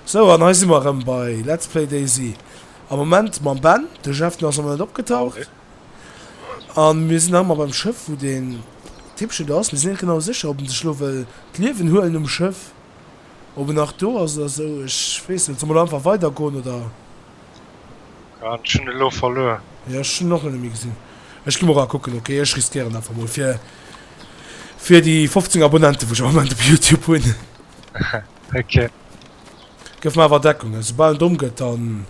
Sou, an hei si mer erëm bei Let's Play Daisy am Moment mam Ben. De Jeff, den ass nach net opgetaucht. A mir sinn nach ëmmer beim Schëff, wou deen Tippchen do ass. Mir sinn net genau sécher, ob en sech elo wëll d'Liewen huelen um Schëff, ob en nach do ass oder esou. Ech weess net. Solle mer elo einfach weidergoen, oder? Ech hunn e elo verluer. Jo, ech hunn en och net méi gesinn. Ech gi mol era kucken, ok? Ech riskéieren einfach mol, fir déi 15 Abonnenten, wou ech am Moment op Youtube hunn. Okay. Gëff mer awer Deckung, esou bal en domm gëtt, dann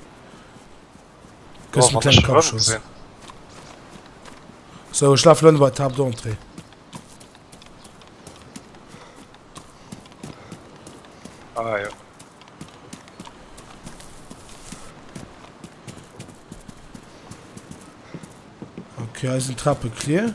kriss du en klengen Kappschoss. Sou, ech laf lënne bei d'Table d'Entrée. Ah jo. Okay, hei sinn d'Trappe clear.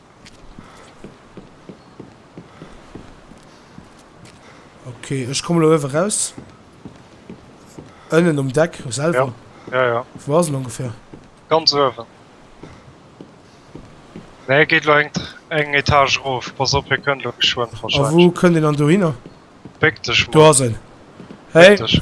Okay, ech komme lo ewe raus. Ënnen um Deck selwer. Ja, ja. ja. Wo ass ongefähr? Ganz ewe. Nee, geet lo eng, eng Etage rof. Pass op, hier kënnt lo geschwënn verschwënn. A wo kënnt den an do hinner? Béck dech. Do ass en. Hey. Béck dech.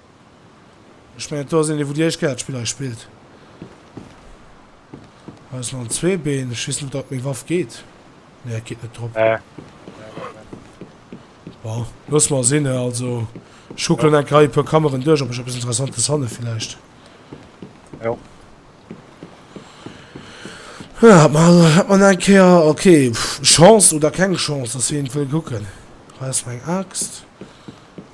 Ech mengen do ass een dee wou déi éischt kéier dat Spill hei spillt. Hei ass nach en Zweebeen, ech weess net ob dat op meng Waff geet. Nee dat geet net drop. Nee. Bon, looss mer sinn hei, also ech kucken enk hei e puer Kammeren duerch ob ech eppes Interessantes fanne villäicht. Jo. Jo hat mer also hat mer nach eng Kéier, ok Chance oder keng Chance, dass hien et wëll kucken. Hei ass nach eng Aaxt.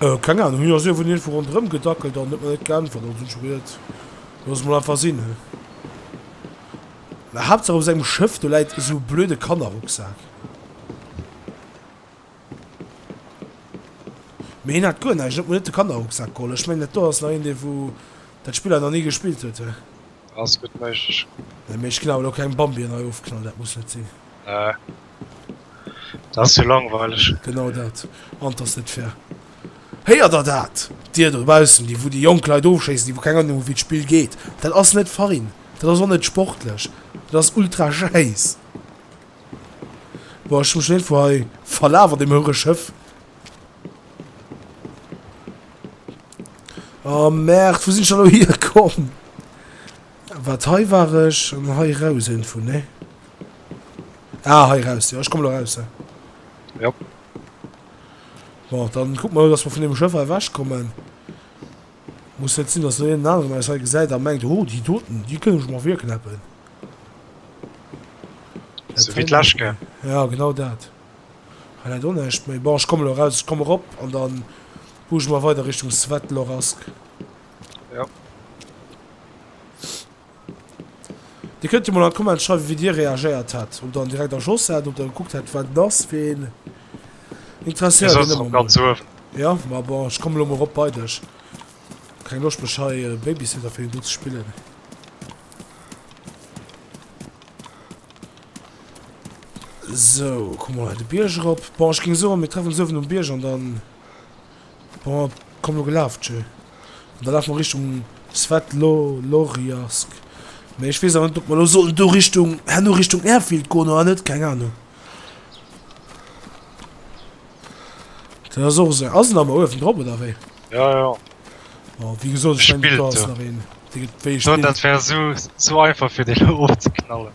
Keng Ahnung, jo se wurden irgendwou ronderem gedackelt an huet mer net geäntwert, also hun ech geduet looss et mol einfach sin. Mä Haaptsaach op sengem Schëff do läit esou e blöde Kannerrucksak. Mee hien hat guer näischt, et huet mer net de Kannerrucksak geholl. Ech mengen dat do ass nach een dee wou dat Spill hei nach ni gespillt huet. Ass gudd méiglech. Nee mee ech gin awer lo keng Bambien hei ofknall, dat muss net sin. Nee dat ass jo langweileg. Genau dat an 't ass net fair. Héiert der dat, dir dobaussen, déi wou déi jonk Leit ofschéissen, déi wou keng Ahnung hu wéi d'Spill geet. Dat ass net fein, dat ass och net sportlech, dat ass ultra schäiss. Boah ech hu mech schon iergendwou hei verlaf an deem houere Schëff. Oh merde, wou sinn ech elo hir komm? Wat hei war ech an hei raus info ne? Ah hei raus ja, ech komme lo raus. Ja. Bon, dann guck mal, dass wir vun dem Schëff erwäsch kommen. Muss net sinn, dass lo een aneren eis hei gesäit a mengt, oh déi doten, déi kënnen ech mer virknäppen. So wéi d'Läschke. Ja genau dat. Highlight onecht, mais bon ech kommen elo raus, ech komm erop an dann buch ech mer weider Richtung Svetlorassk. Jo. Dir kënnt jo mol an d'Comment schreiwen wéi dir reagéiert hätt, ob der en direkt erschoss hätt, ob der gekuckt hätt wat en ass, fir een interesséiert Mir en sotzen och ëmmer ganz mol. uewen. Jo, ma bon ech kommen elo mol erop bei dech, keng Loscht mech hei Babysitter fir een do ze spillen. So, komm mal de Bierg erop. Bon, ech ging soen, mir treffen uns oewen um Bierg an dann... Bon, komm lo gelaf, tjö. An da lafen mer Richtung Svetloloriarsk. Mee ech wees awer net, ob mer lo sollen do Richtung, herno Richtung Airfield goen oder net, keng Ahnung. Dat ass och esou, ass en awer oewen drop oder wéi? Jo, jo. Bon, wéi gesot, ech mengen do ass nach een. Dee gëtt wéi gespillt. Sot, dat wär esou, esou einfach fir dee lo ofzeknallen.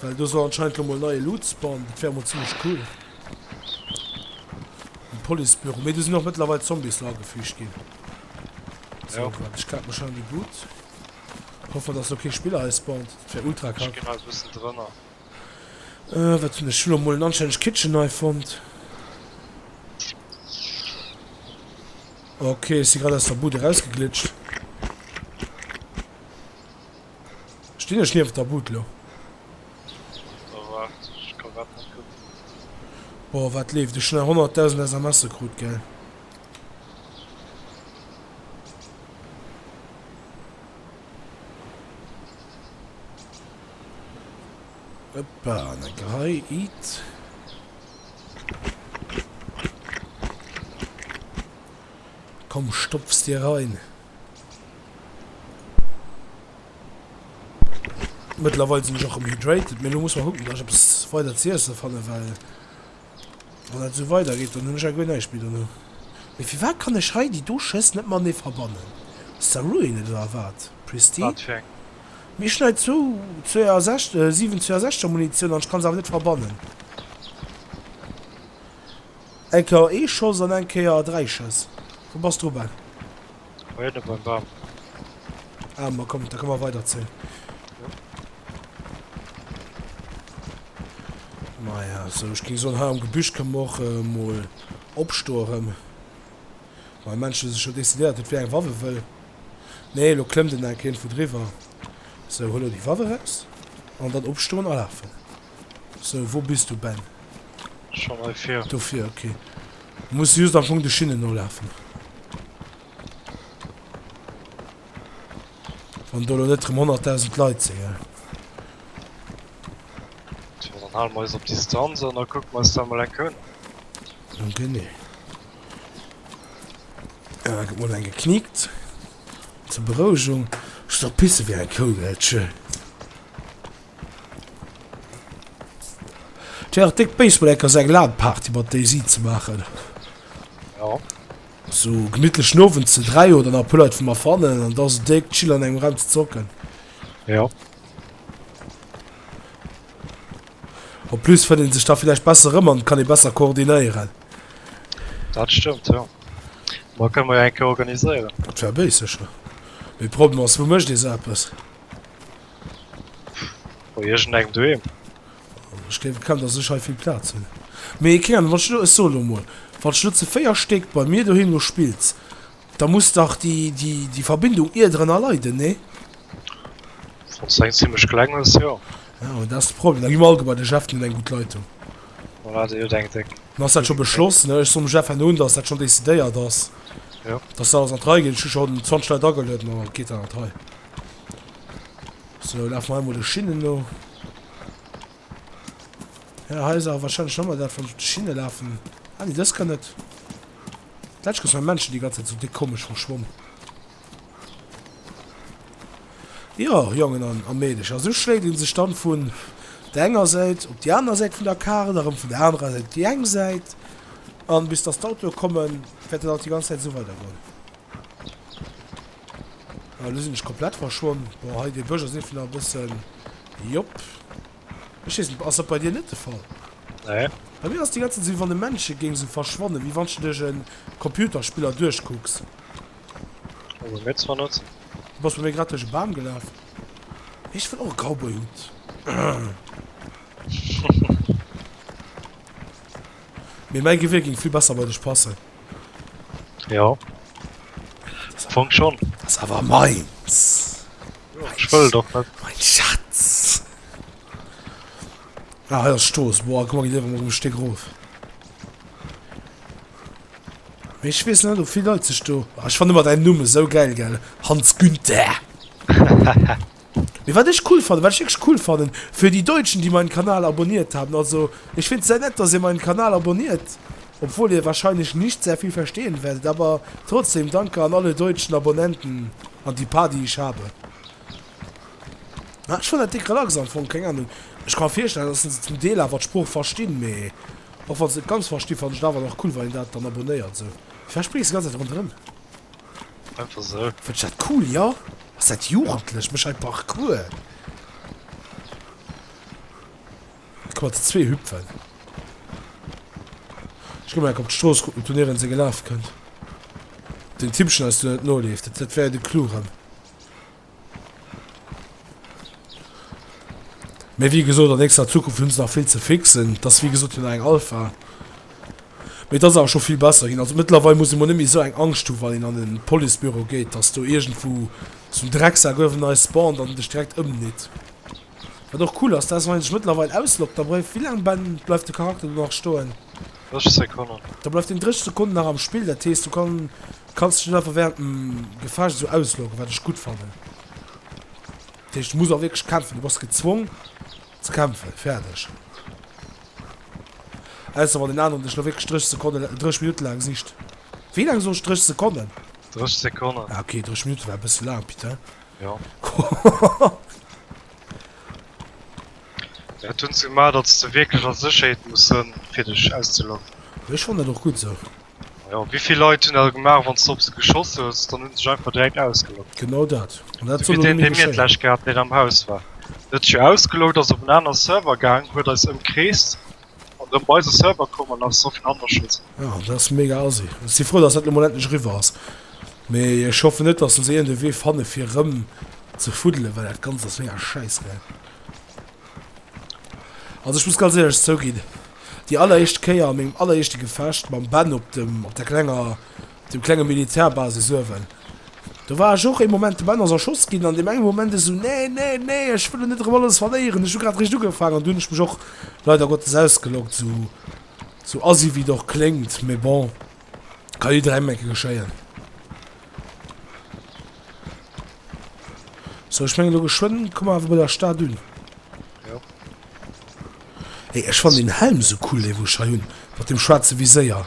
Well do soll anscheinend lo mol neie Loots bauen. Dat wär mol zimlech cool. Den Policebüro. Mee do sinn och mëttlerweil Zombies lo agefügt ginn. So, ja. wat, ech klärt mech an déi Bud. Hoffe, dass lo kee Spiller hei spawnt. Dat wär ultra kack. Genau, so bist du drënner. Äh, wat hunn ech lo mol en anständig Kitchen hei fonnt. Okay, ech si grad aus der Bud erausgeglitscht. Stinn ech nieft der Bud lo? Oh waart, ech ka grad net kucken. Boah wat leeft, ech hun 100.000 SMS'e krut geil. Hoppa, an eng Rei it. Komm stopfs dir rein. Mëttlerweil sinn ech och rem hydrated, mee lo muss mer kucken, dass ech eppes weider ze iesse fannen, well wann dat esou weider geet, dann hunn ech agguer näischt méi dono. Mee firwat kann ech hei déi do Schëss net matenee verbannen? Ass dat ruined oder wat? Pristine? Wat fir eng? Mee ech hunn hei zwou 62 7 62er Munitioun an ech kann se awer net verbannen. Eng Kéier ee Schoss an eng Kéier dräi Schëss. Wou bass du, Ben? Hei ënne beim Bam. Ah, ma komm, da ka mer weiderzéien. Maja, sou, ech ging soen, hei am Gebüsch kënne mer och äh, mol opstoe rëm. Mei Mensch hu sech scho decidéiert, huet wéi eng Waff e wëll. Nee, lo klëmmt en enk hierndwou driwwer. Sou, huel lo déi Waff eraus an dann opstoen a lafen. So, wou bis du, Ben? Schon hei vir. Do vir, ok. Du muss just am Fong de Schinnen nolafen. Wann do net rem 100.000 Leit sinn, gell? So, dann halen wir eis op Distanz an dann kucken wir eis dat mal enke un. Nun genee. Ja, gëtt mol eng gekniekt. Zur Berouegung. Ech soll pisse wéi eng Kou, gell? Tschö. D'Jhäre Dick Baseball Eck ass eng LAN-Party mat déi si ze maachen. Ja. Sou gemittlechen Nowend ze 3 oder nach e puer Leit wou mer fannen an da se Dick chill an engem Raum ze zocken. Ja. En plus fënnt een sech da villäicht besser erëm an kann ee besser koordinéieren. Dat stëmmt ja. Ma kënne mer jo eng Kéier organiséieren. Dat wär béis sécher. Mee Problem ass, wou mécht ee sou eppes? Bei irgend engem doheem. Ech gleef et kann dass ech hei vill Platz hun. Mee keng Ahnung wann ech lo, ech soen lo mol wann ech lo ze 4 Stéck bei mir doheem lo spills da muss dach déi déi déi Verbindung ierdrenner leiden, nee? Wanns du eng zimmlech kleng hues, jo. Ja mee dat ass de Problem, da gi mer all gebai, de Jeff den huet eng gutt Leitung. Voilà déi huet eng déck. Dann ass dat scho beschloss, ne? Ech soen dem Jeff herno un dass dat schonn décidéiert ass, Jo. dass se alles an d'Rei ginn. Ech hu scho 20 Leit agelueden, da geet dat an d'Rei. So, lafen wir einmal de Schinnen no. Ja, hei ist aber wahrscheinlich nochmal das, wenn ich die Schiene laufen. Ah, nee, das kann nicht. Vielleicht gibt es Menschen, die ganze Zeit so dick komisch verschwommen. Ja, Jungen und am Mädchen. Also schlägt ihn sich dann von der einen Seite auf die andere Seite von der Karte, darum von der anderen Seite die eine Seite. Und bis das Auto kommen, wird das die ganze Zeit so weitergehen. Lo sinn ech komplett verschwonn. Bon, hei dee Bësch ass eh vläicht nach e bëssen, jop. Ech weess net, ass dat bei dir net de Fall? Nee. Bei mir ass déi ganze Zäit, wéi wann de Männche géing esou verschwannen, wéi wann s de dech e Computerspiller duerchkucks. Hu mer mir zwar net. Du bass bei mir grad duerch e Bam gelaf. Ech wëll och e Cowboy-Hutt. Mee mäi Gewier géing vill besser bei dech passen. Jo. Fong schon. Das ist aber meins. Jo, ich will doch nicht. Mein Schatz. Ah, ja, Stoß. Boah, guck mal, ich lebe mal ein Stück rauf. Ich weiß nicht, wie viele Leute sich da. Ah, ich fand immer deinen Namen so geil, gell? Hans Günther. Mee wat ech cool fannen, wat ech wierklech cool fannen, für die Deutschen, die meinen Kanal abonniert haben, also ech find's sehr nett, dass Dir meinen Kanal abonniert, obwohl Dir wahrscheinlich nicht sehr viel verstehen werdet, aber trotzdem danke an alle deutschen Abonnenten, an die paar, die ich habe. Ech fannen dat déck relax am Fong, keng Ahnung, ech ka mer virstellen, dass se zum Deel awer d'Sprooch verstinn, mee och wann se net ganz verstinn, fannen ech et awer nach cool, wann een dat dann abonnéiert esou. Vläch bréngt se ganz Zäit ronderëm. Einfach so. Fënnt ech dat cool, jo. Ass dat jugendlech? Méch hei Parkour. Guck mal, déi zwee hüpfen. Ech gi mol enk op d'Strooss kucken, ob doniewent se gelaf kënnt. Den Tippchen eis do net noleeft. Dat wär de Clou erëm. Mee wéi gesot, an nächster Zukunft hunn se nach vill ze fixen. Et ass wéi gesot jo nach eng Alpha. Mee et ass awer scho vill besser ginn. Also mëttlerweil muss ee mol net méi esou eng Angscht hu wann een an e Policebüro geet, datt do iergendwou esou en Drecksak uewen eis spawnt an dech direkt ëmnitt. Wat och cool ass, dat ass wann een sech mëttlerweil ausloggt, da bleift, wéi laang, Ben, bleift de Charakter do nach stoen? 30 Sekonnen. Da bleift deen 30 Sekonnen nach am Spill, dat heesst du kann, kanns dech net einfach während dem Gefecht esou ausloggen, wat ech gutt fannen. Dat heescht, du muss och wierklech kämpfen, du bass gezwong ze kämpfen, fäerdeg. Ausser wann deen aneren dech elo wierklech 30 Sekonnen, 30 Minutte laang sicht. Wéi laang soen ech, 30 Sekonnen? 30 Sekonnen. Ah, okay, 30 Minutte war e bësse laang, putain. Jo. Jo, et hunn se gemaach, datt s de wierklech a Sécherheet muss sënn, fir dech auszeloggen. Jo, ech fannen dat och gutt esou. Jo, wéi vill Leit hunn dat gemaach? Wann s de op se geschoss hues, dann hunn se sech einfach direkt ausgeloggt. Genau dat. An dat Esou soll wéi och deen, méi dee mir geschéien. d'lescht gehat hunn, deen am Haus war. En huet sech jo ausgeloggt, ass op en aner Server gaang, huet eis ëmkreest An ëm bei eise Server komm an ass et Sophie Hander Schold. Ah, dat ass mega assi. Ech si frou, datt dat elo mol endlech eriwwer ass. Mee ech hoffen net, datt se iergendee Wee fanne fir erëm ze fuddelen, well dat Ganzt ass mega schäiss, ne? Also ech muss ganz éierlech zouginn, déi alleréischt Kéier a mengem alleréischte Gefecht mam Ben op dem, op der klenger. Dem klenge Militärbasis uewen. Do war ech och ee Moment de Banners erschoss ginn, an deem enge Moment esou, Nee, nee, nee, ech wëll lo net erëm alles verléieren, ech hu grad eréischt ugefaangen. An do hunn ech mech och leider Gottes ausgeloggt, sou assi wéi et och kléngt, mee bon, ka jidderengem eng Kéier geschéien. Sou, ech mengen elo geschwënn komme mer awer bei der Stad un. Jo. Hey, ech fannen deen Helm esou cool, dee wou ech hei hunn, mat deem schwaarze Viséier.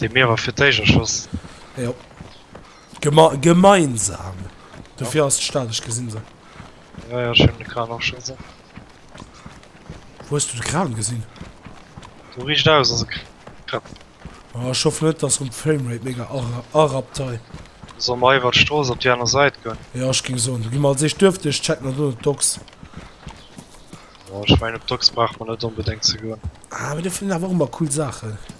Dee mir awer fir d'éischt erschoss. Jo. Gema gemeinsam. Dofir ass d'Stad, ech gesinn se. Jo, jo, ech hunn de Kran och scho gesinn. Wou hues du de Kran gesinn? Do riicht aus ass e Kran. Oh, ech hoffen net, dass rëm d'Framerate mega ara arappt hei. Solle mer iwwert d'Strooss op déi aner Sait goen? Jo, ech géing soen, do gi mer als éischt duerften. Ech checken an dono d'Docks. Jo, ech mengen op d'Docks brauche mer net onbedéngt ze goen. Ah, mee do finn een awer och ëmmer cool Saachen.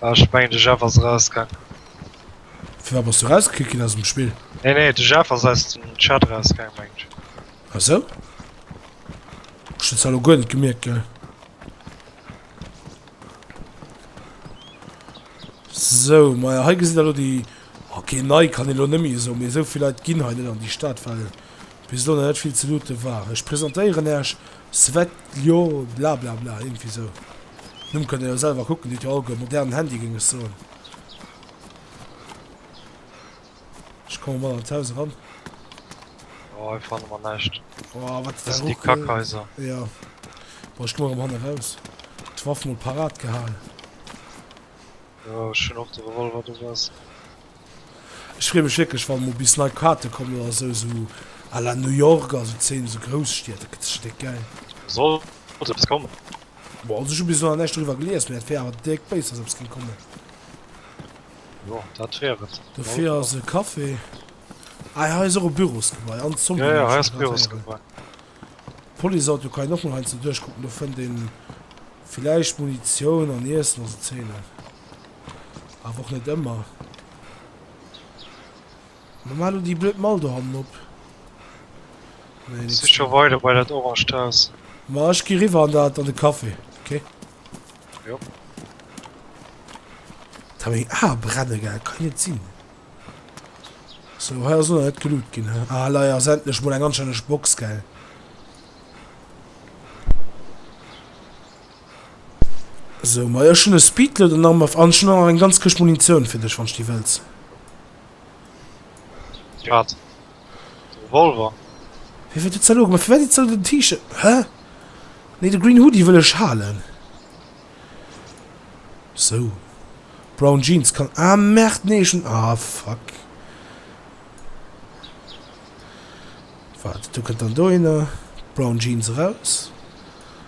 Ech mengen de Jeff ass erausgaangen. Firwat bass du erausgekickt ginn aus dem Spill? Nee nee, de Jeff ass aus dem Chat erausgaangen mengen ech. Ah sou? Ech hunn zwar elo guer net gemierkt, gell. Sou, ma ja, hei gesitt der elo déi... Okay, nei kann ee lo net méi esou, mee esou vill Leit ginn hei net an déi Stad, well bis elo nach net vill ze loote war. Ech presentéieren Iech. Svetljo blablabla, iergendwéi esou. Numm kënnt der jo selwer kucken, deet jo all guer. Modernen Handy géing ech soen. Ech komme mol an d'Haus eran. Jo, hei fanne mer näischt. Oh, wat dat sinn déi Kackhaiser. Jo. Bon, ech komme erëm hanne raus. D'Waff mol parat gehal. Jo, ech hunn och de Revolver dobäi. Ech freeë mech wierklech wann emol bis nei Kaarte kommen oder esou, esou à la New York, also zéien esou grouss Stied, dat gëtt stéck gäil. Sollt eppes kommen? Boah, also ech hu bis elo nach näischt doriwwer gelies, mee dat wier awer dierk béis wann eppes géing kommen. Jo, dat wier et. Dofir ass e Café. Ah hei ass och e Bürosgebai an Zombie. Jo, jo, hei ass e Bürosgebai. Policeauto kann een och mol heiansdo duerchkucken, do fënnt ee villäicht Munitioun an Iessen, also zéien dat. Awer och net ëmmer. Ma maach elo déi blöd Mall do hannen op. Nee, nix. Sich scho weider bei dat oranged Haus. Ma ech gi riwwer an dat, an de Café, ok? Jo. Alter, meng Ae brenne gaangen, dat kann jo net sinn. So, hei ass och nach net geloot ginn, he? Ah, lei ass endlech mol eng anstänneg Box, gell? Sou, majo, ech hunn e Speedloader nach mat an ech hunn och nach eng ganz Këscht Munitioun fir dech, wann s de déi wëlls. Wat? De Revolver? Wéi war dat ze elo? Mä firwat iech ze elo den T-Shirt? Hä? Nee, de Green Hoodie wëll ech halen. Sou, Brown Jeans kann. Ah merde, nee, ech hunn. Ah fuck. Waart, du kënnt dann dohinner. Brown Jeans eraus.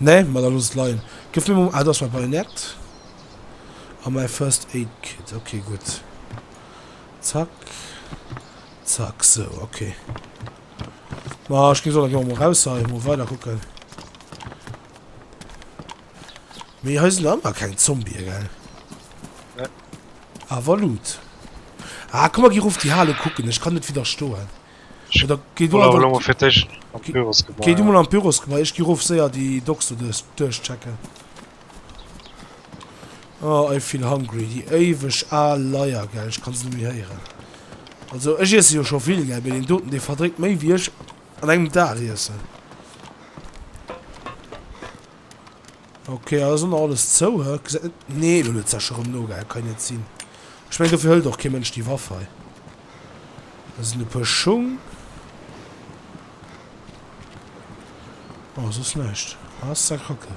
Nee, ma da looss et leien. Gëff mir mol, ah do ass mäi Bajonett a mäi First Aid Kit. Ok, gutt. Zack, zack, sou, ok. Ma ech géif soen, da gi mer mol raus hei, mol weider kucken. Mee hei sinn ëmmer keng Zombie, gell? Nee. Awer luut. Ah, komm, mer gi erof déi Hal ukucken, ech kann net widderstoen. Gei du mol an d'Büros gebai, ech gi rof séier déi Docks do duerchchecken. Oh, I feel hungry, déi éiweg al Leier, gell, ech kann se net méi héieren. Also, ech iesse jo scho vill, gell, mee deen doten, dee verdréit méi wéi ech an engem Dag iessen. Ok ass och nach alles zou hä? Gesäit net nee elo huet sech erem nogehaat, dat kann jo net sinn. Ech mengen dofir hëlt och kee Mënsch déi Waff hei. Do sinn e puer Schung. Bon soss näischt ass ze kacke.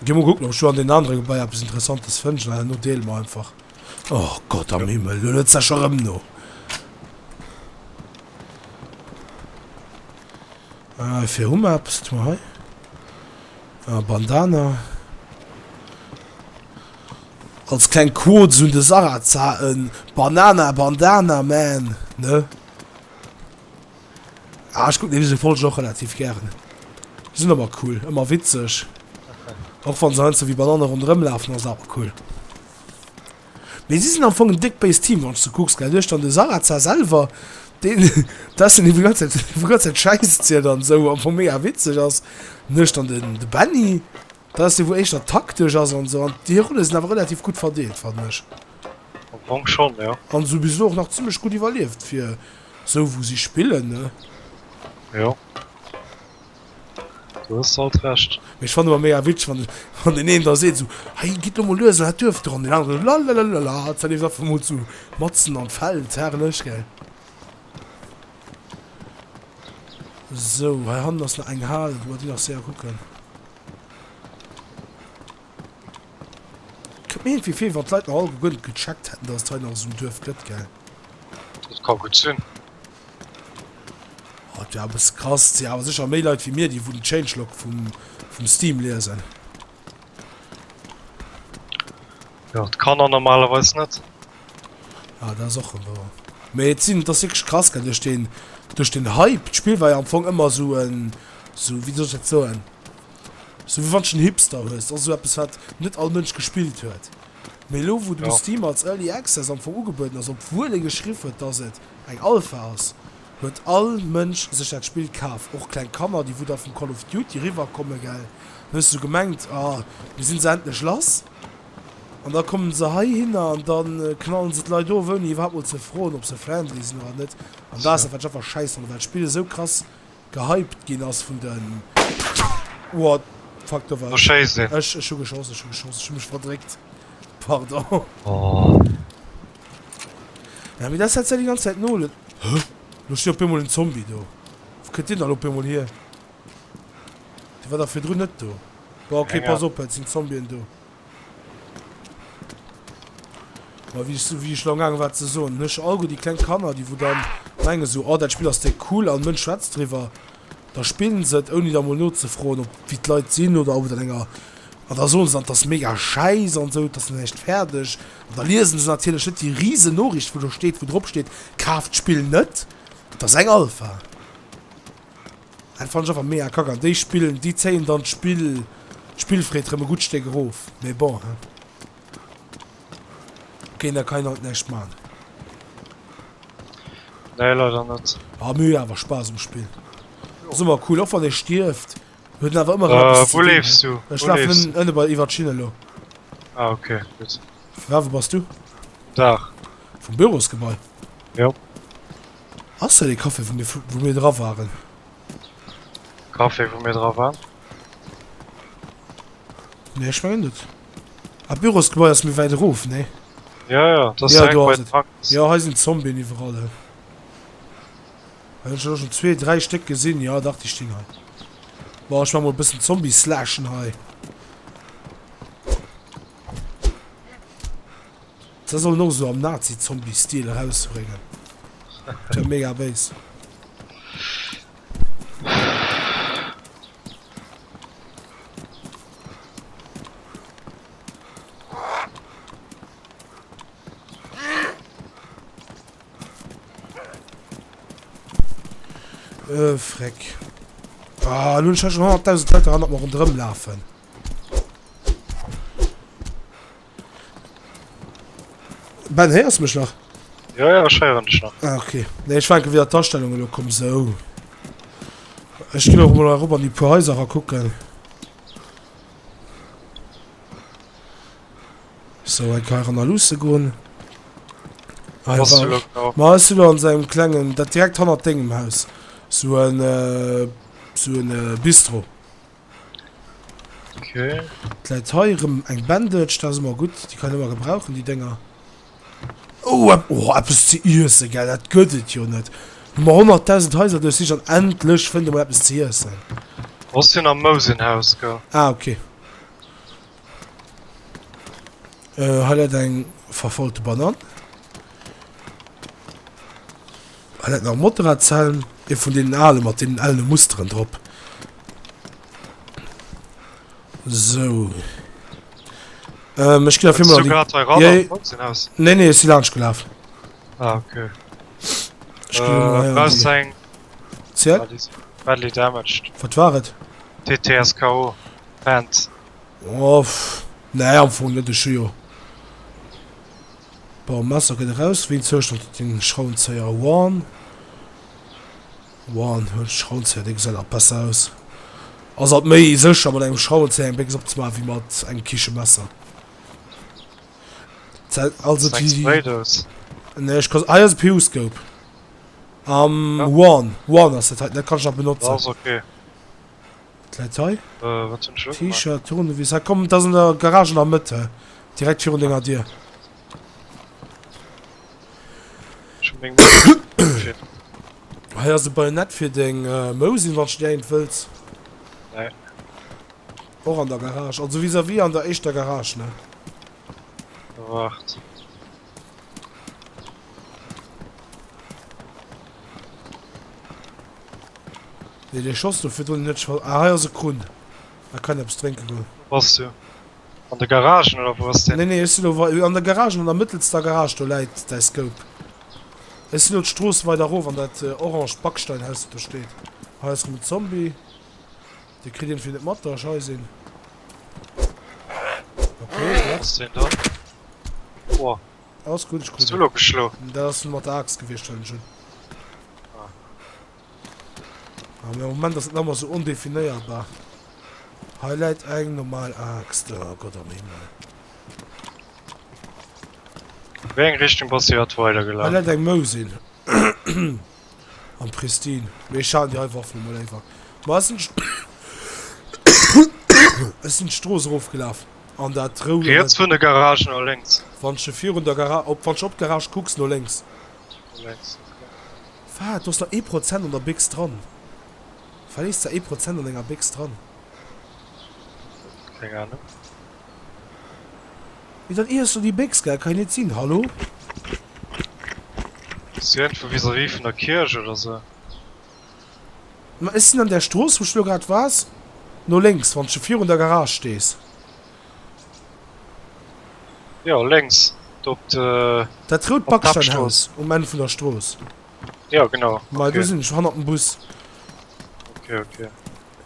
Gi mol kucken op ech do an den anere Gebaier eppes interessantes fënnt. Well herno deele mer einfach. Oh Gott am Himmel elo huet sech erem no. Hei fir hu mer eppes, kuckt mol hei, a Bandana. Als kleng Quote un de Sarrazza, e Banana Bandana Man, ne? Ah, ech kucken dese Folge och relativ gären. Déi sinn awer cool, ëmmer witzeg, och wann se heiansdo wéi Banane ronderëmlafen, ass awer cool. Mee si sinn am Fong en déck béist Team, wann s de kucks, gell? Du hues dann de Sarrazin selwer, deen dessen Equipe d'ganz Zäit, d'ganz Zäit Schäiss zielt an esou am Fong mega witzeg ass. Dann hues dann den, de Benny, dat ass dee wou éischter taktesch ass an esou. An déi Rolle sinn awer relativ gutt verdeelt, fannen ech. Am Fong schonn, jo. An esou bis elo och nach zimmlech gutt iwwerlieft fir esou wou si spillen, ne? Jo. Do hues de alt Recht. Mee ech fannen ëmmer mega witzeg, wann wann deen een da seet esou, Hey, gitt elo mol lues an dat Duerf do! An deen aneren esou, Lalalala, dat leeft einfach mol sou matzen an d'Feld. Herrlech, gell? Sou, hei hannen ass nach eng Hal, wou mer déi nach séier kucken. Kënnt mir iergendwéi vir, wéi wann d'Leit nach alleguer guer net gecheckt hätten, dass et hei nach esou en Duerf gëtt, gell? Dat ka gutt sinn. Oh, et wär e bësse krass. Et si awer sécher méi Leit wéi mir, déi wou den Changelog vum, vum Steam liesen. Jo, d'Kanner normalerweis net. Ah, dat ass och rem wouer. Mee et sinn, et ass wierklech krass, gell, duerch den, duerch den Hype. D'Spill war jo am Fong ëmmer esou en, esou, wéi soll ech dat soen, esou wéi wann s de en Hipster hues. Et ass esou eppes, wat net all Mënsch gespillt huet. Mee elo, wou den Steam als Early Access am Fong ugebueden ass, obwuel ee geschriff huet, dass et. Eng Alpha ass, huet all Mënsch sech dat Spill kaf, och kleng Kanner, déi wou da vum Call of Duty riwwer kommen, gell, dann hues du gemengt, ah mir sinn se endlech lass, an da kommen se heihinner an da knallen se d'Leit of ouni iwwerhaapt mol ze froen op se friendly sinn oder net, an dat ass dat wat ech einfach schäiss fannen, well d'Spill esou krass Gehypt ginn ass vun den. Oha, fuck, do war ech. Ech hu geschoss, ech hu geschoss, ech hu mech verdréckt. Pardon. Ja, mee dat hätt säi déi ganz Zäit no. Hä? Lo steet op eemol en Zombie do. Wou kënnt deen dann op eemol hier? Dee war dach virdrun net do. Bon, ok, pass op, et sinn Zombien do. Ma wéi ech sou wéi ech lo amgaange war ze soen, huet scho allgutt déi kleng Kanner, déi wou dann menge sou, oh dat Spill ass déck cool an Mënsch schwätzt driwwer, da spillen se et ouni da mol nozefroen ob wéi d'Leit sinn oder ob et an enger, an da soen se dann et ass mega schäiss an sou, et ass nach näischt fäerdeg an da liesen se natierlech net déi riesen Noriicht wou do steet, wou drop steet, kaaft d'Spill net, et ass eng Alpha. Dat fann ech awer mega kack an déi spillen, déi zéien dann d'Spill, d'Spillfreed rem e gutt Stéck erof, mee bon hein. Ok da kann een alt näischt maan. Nee leider net. Ah mee huet awer Spass um Spill, ass ëmmer cool och wann ee stierft, huet en awer ëmmer erëm eppes ze dinn hein. Ech lafen ënnen ënne bei iwwert d'Schinn elo. Ah ok gutt. Wou bass du? Um Daach. Vum Bürosgebai? Jo. Ass dat dee Café vun dir wou mir dra waren? Café wou mir dra waren? Nee ech mengen net. Ah d'Bürosgebai ass méi wäit erof, nee? Ja ja dat ass direkt bei den Hackers. Jo hei sinn Zombien iwwerall hei. Hunn ech elo schonn zwee, dräi Stéck gesinn, jo dach déi stinn hei. Bon ech maa mol e bëssen Zombie slashen hei. Ze sollen och esou am Nazi Zombie Stil erausbrengen wär mega béis. Äh freck. Ah, nun schon 100.000 Leute ran, ob mer rundrem lafen. Ben, héiers du mech nach? Ja, ja, ech héieren dech nach. Ah, okay. Nee, ech war enke wieder d'Astellung elo komm, sou. Ech ginn och mol erop an déi puer Häuser ra kucken. So, enke hei ran a luusse goen. Hei Was war- du lo genau? Ma ass du an seinem klengen, dat direkt hannert dengem Haus. So en, äh, so en äh, Bistro. Okay. Et läit hei erëm eng Bandage, dat ass ëmmer gutt. Déi kann een ëmmer gebrauchen, déi Dénger. Oh, oh eppes ze iessen, gell, dat gëtt et jo net. Hu mer 100.000 Haiser duerchsicht an endlech fënnt ee mol eppes ze iessen. Ass jo nach Mousenhaus, gell. Ah, okay. Äh hei läit eng verfaulte Banann. Hei läit nach e Motorradshelm, ee vun deenen ale mat deenen ellen Musteren drop. Sou. Ähm ech ginn afir mol an déi... Jee. Nee, nee, ech si laanscht gelaf. Ah, okay. Ech ginn emol hei an déi... Ziel? Badly damaged. Wat war et? TTSKO. Pants. Nee am Fong net, ech hu jo bon Messer gëtt eraus wéi en Zoustand huet den Schraubenzéier one one huet den Schraubenzéier dee gesäit nach besser aus ass alt méi sécher mat engem Schraubenzéier eng Béchs opzemaachen wéi mat engem Kichemesser also déi déi nee ech ka se ah jo se Periscope one one ass dat hei dat kann ech nach benotzen. Wat läit hei? T-Shirt, Tournevis, hei komm, dat ass an der Garage an der Mëtt he, direkt virun denger Dier. Hei ass e Bajonett fir deng Mousin, wann s de dir eent wëlls. Och an der Garage, also vis-à-vis an der éischter Garage, ne? Waart. Nee, den Schoss do fir net schon. Ah, hei ass e Krun. Da kann etwas trinken gehen. Was du? An der Garage oder wo ist der? Nee, nee, ich lo an der Garage, an der mittelster Garage, do läit dein Scope. Ich sin lo d'Stross weider rof an dat orange Backsteinhaus dat do steht. Hei ass rem e Zombie. Dee kritt een fir net mat da schei sinn. Ok ass deen da? Boah. Alles gutt, ech kritt en. Dat ass mat der Aaxt gewiescht well ech hunn. Ah mee am Moment ass et nach mol sou ondefinéierbar. Hei läit eng normal Aaxt, oh Gott am Himmel. Wéi eng Richtung bass de grad weider gelaf? Hei läit eng Mousin. Am Pristin. Mee ech haten déi hei Waffel emol léiwer. Ma ech sinn. Ech sinn d'Strooss erof gelaf. An dat rou. Riets vun der Garage no lénks. Wann ech virun der Garage op. Wann ech op d'Garage kucks, no lénks. No lénks, okay. Wat? Do ass nach ee Prozent an der Béchs dran. Wat lees de ee Prozent an enger Béchs dran? Keng Ahnung. Mee dat iesso déi Bécks gell, kann jo net sinn, hallo? Bist du irgendwou vis-à-vis vun der Kierch oder sou? Ma ech sinn an där Strooss wou ech lo grad wars, no lénks wanns de virun der Garage stees. Jo lénks do op de. Dat rout Backsteinhaus um Enn vun der Strooss. Jo genau. Ma do sinn ech, hanner dem Bus. Ok ok.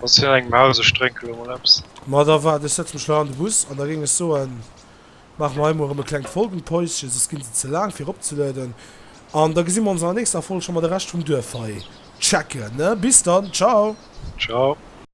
Ass fir eng Maus, ech drénke lo mol eppes. Ma da waart, ech setze mech lei an de Bus an da géing ech soen, maache mer hei mol erëm e klengt Folgenpäuschen, soss ginn se ze laang fir eropzelueden an da gesi mer ons an der nächster Folg scho mar de Rescht vum Duerf hei checken ne. Bis dann, ciao. Ciao.